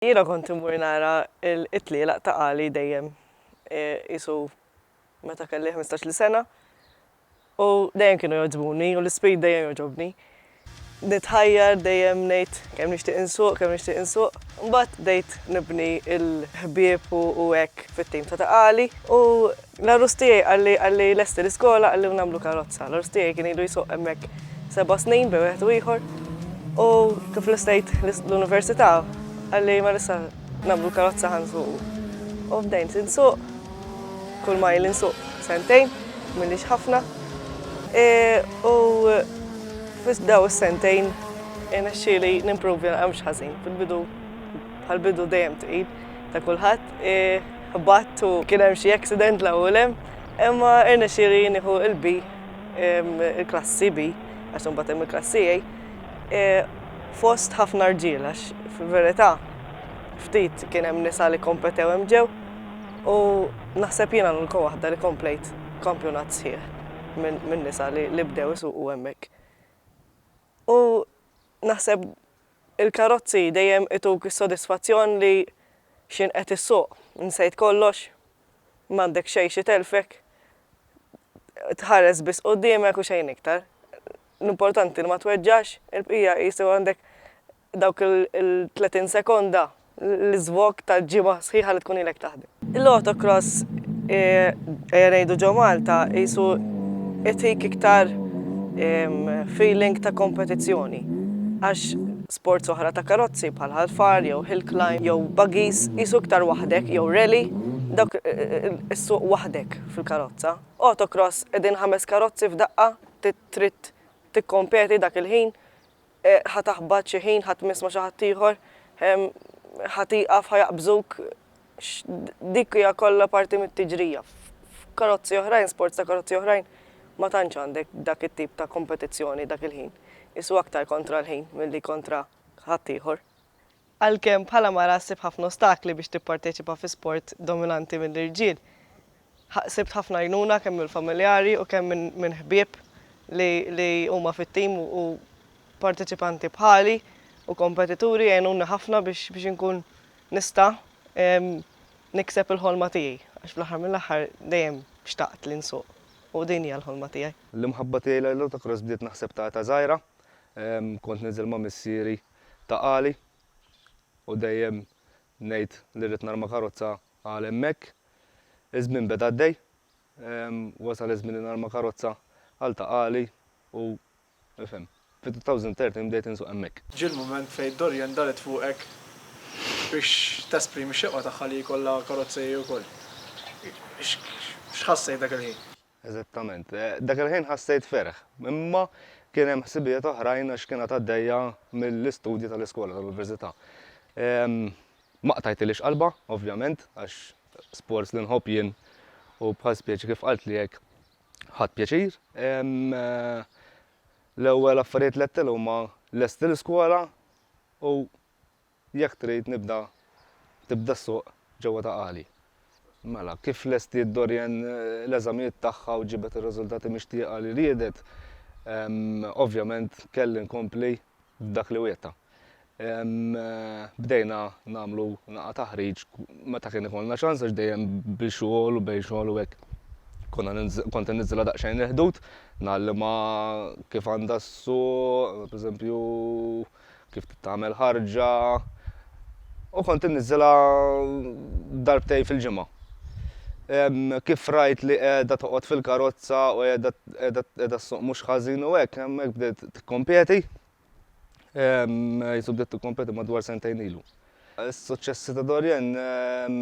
Jiena kont immur nara t-tlielaq ta' Għali dejjem, qisu meta kelli ħmistax-il sena, u dejjem kienu jogħġbuni u l-ispirit dejjem jogħġobni. Nitħajjar dejjem ngħid kemm nixtieq insuq, kemm nixtieq insuq. Imbagħad bdejt nibni l-ħbieb u hekk fit-tim ta' ta' Għali u L-għarus tiegħi qalli, qalli lesti l-iskola, qalli u nagħmlu karozza. L-għarus tiegħi kien ilu jsuq hemmhekk seba' snin bejn wieħed u ieħor. U kif lestejt l-università, qalli mela issa nagħmlu l-karozza ħa nsuqu. U bdejt insuq, kull ma jli nsuq sentejn, m'ilix ħafna. E, u fis daw is-sentejn irnexxieli nimprovja, mhux ħażin. Fil-bidu, bħall-bidu dejjem tqil ta' kulħadd. E, Ħbatt u kien hemm xi accident 'l hawn u 'l hemm, imma irnexxieli nieħu l-B, il-klassi B, għax imbagħad hemm il-klassi A, fost ħafna rġiel għax fil-verità ftit kien hemm nisa li kompetew hemm ġew u naħseb jiena l-unika waħda li komplejt kampjonat sħiħ minn nisa li bdew isuqu hemmhekk. U naħseb Il-karozzi dejjem ituk is-sodisfazzjon li x'int qed issuq, nsejt kollox, m'għandek xejn xi telfek, tħares biss quddiemek u xejn iktar. L-importanti li ma tweġġax, il-bqija qisu għandek dawk il-tletin sekonda. l-iżvog ta' ġimgħa sħiħa li tkun ilek taħdem. Il-autocross ejja ngħidu ġo Malta qisu itik iktar feeling ta' kompetizzjoni għax sports oħra ta' karozzi bħal ħalfar jew hill climb jew buggies qisu iktar waħdek jew rally dawk issuq waħdek fil-karozza. Autocross qegħdin ħames karozzi f'daqqa trid tikkompeti dak il-ħin Ħa taħbat xi ħin, ħa tmiss ma' xi ħadd ieħor, ħa tieqaf, ħa jaqbżuk. Dik hija kollha parti mit-tiġrija. F'karozzi oħrajn, sports ta' karozzi oħrajn, ma tantx għandek dak it-tip ta' kompetizzjoni dak il-ħin. Isu aktar kontra l-ħin milli kontra ħaddieħor. Għalkemm bħala mara ħsibt ħafna ostakli biex tipparteċipa fi sport dominanti mill-irġiel, ħsibt ħafna għajnuna kemm mill-familjari u kemm minn ħbieb li huma fit-tim u parteċipanti bħali u kompetituri għenuni ħafna biex inkun nista' nikseb il-ħolma tiegħi għax fl-aħħar mill-aħħar dejjem xtaqt li nsuq u din hija l-ħolma tiegħi. L-imħabba tiegħi lejn l-autocross bdiet naħseb ta' età żgħira. Kont ninżel ma' missieri ta' Qali u dejjem ngħid li rrid narma karozza għal hemmhekk. Iż-żmien beda għaddej, wasal iż-żmien li narma karozza għal ta' Qali u, ifhem, fit-2013 bdejt insuq hemmhekk. Ġie l-mument fejn Dorian daret fuqek biex tesprimi x-xewqa tagħha li jkollha karozza hi wkoll. X'ħassejt dak il-ħin? Eżattament. Dak il-ħin ħassejt ferħ, imma kien hemm ħsibijiet oħrajn għax kien għad għaddejja mill-istudji tal-iskola tal-università. Ma qtajtilix qalbha, ovvjament, għax sports li nħobb jien u bħal spjeċi kif qaltli hekk ħadt pjaċir. L-ewwel affarijiet li għedtilha huma lesti l-iskola u Jekk trid nibda tibda ssuq ġewwa ta' Qali. Mela, kif lestiet Dorian l-eżamijiet tagħha u ġibet ir-riżultati mixtieqa li riedet, ovvjament kelli nkompli b'dak li wiegħdtha. Bdejna nagħmlu naqgħa taħriġ meta kien ikollna ċans għax dejjem bi xogħol u bejn xogħol u hekk konna kont inniżżilha daqsxejn il-ħdud, ngħallimha kif għandha ssuq, pereżempju, kif titgħamel ħarġa u kont inniżżilha darbtejn fil-ġimgħa. Ehm, kif rajt li qiegħda toqgħod fil-karozza u qiegħda qiegħda qiegħda ssuq mhux ħażin u hekk, hemm hekk bdiet tikkompeti. Ehm, jisu bdiet tikkompeti madwar sentejn ilu. Is-suċċessi ta' Dorian ehm,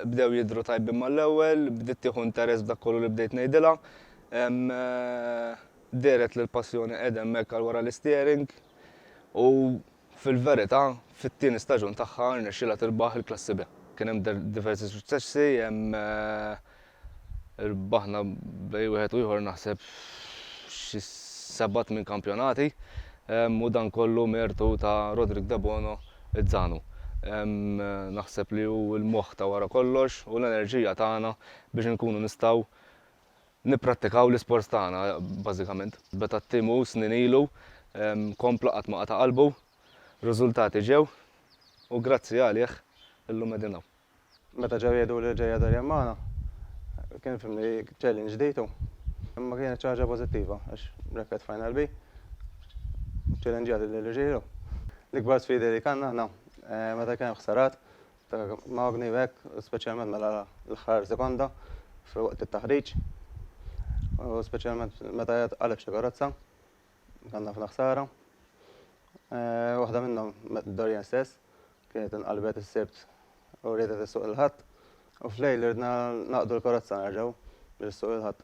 bdew jidhru tajbin mal-ewwel, bdiet tieħu interess b'dak kollu li bdejt ngħidilha. Ehm, eh, dehret li l-passjoni qiegħda hemmhekk għal wara l-isteering. u fil-verità fit-tieni staġun tagħha rnexxielha tirbaħ il-Klassi B. Kien hemm diversi suċċessi, hemm irbaħna bej wieħed u ieħor naħseb xi sebat minn kampjonati u dan kollu mertu ta' Roderick Debono Izzanu. Naħseb li hu l-moħħ ta' wara kollox u l-enerġija tagħna biex inkunu nistgħu Nipprattikaw l-isports tagħna, bażikament. Beda t-tim u snin ilu, kompla qatt ma qata' qalbu, riżultati ġew u grazzi għalih illum qegħdin hawn. Meta ġew jgħidu li ġej Adrian magħna, kien fimni challenge ġdid u imma kienet xi ħaġa pożittiva għax Rekat Final B ċċellenġja lill-irġiel u l-ikbar sfidi li kellna aħna meta kien hemm ħsarat Magni u hekk, speċjalment mela l-aħħar sekonda fil-waqt it-taħriġ. U speċjalment meta qed qaleb xi karozza, kien ħafna ħsara. Eh, waħda minnhom Dorian stess kienet inqalbet is-sibt u riedet is-suq il-ħadd u f'lejl irdna naqdu l-karozza nerġgħu biex is-suq il-ħadd.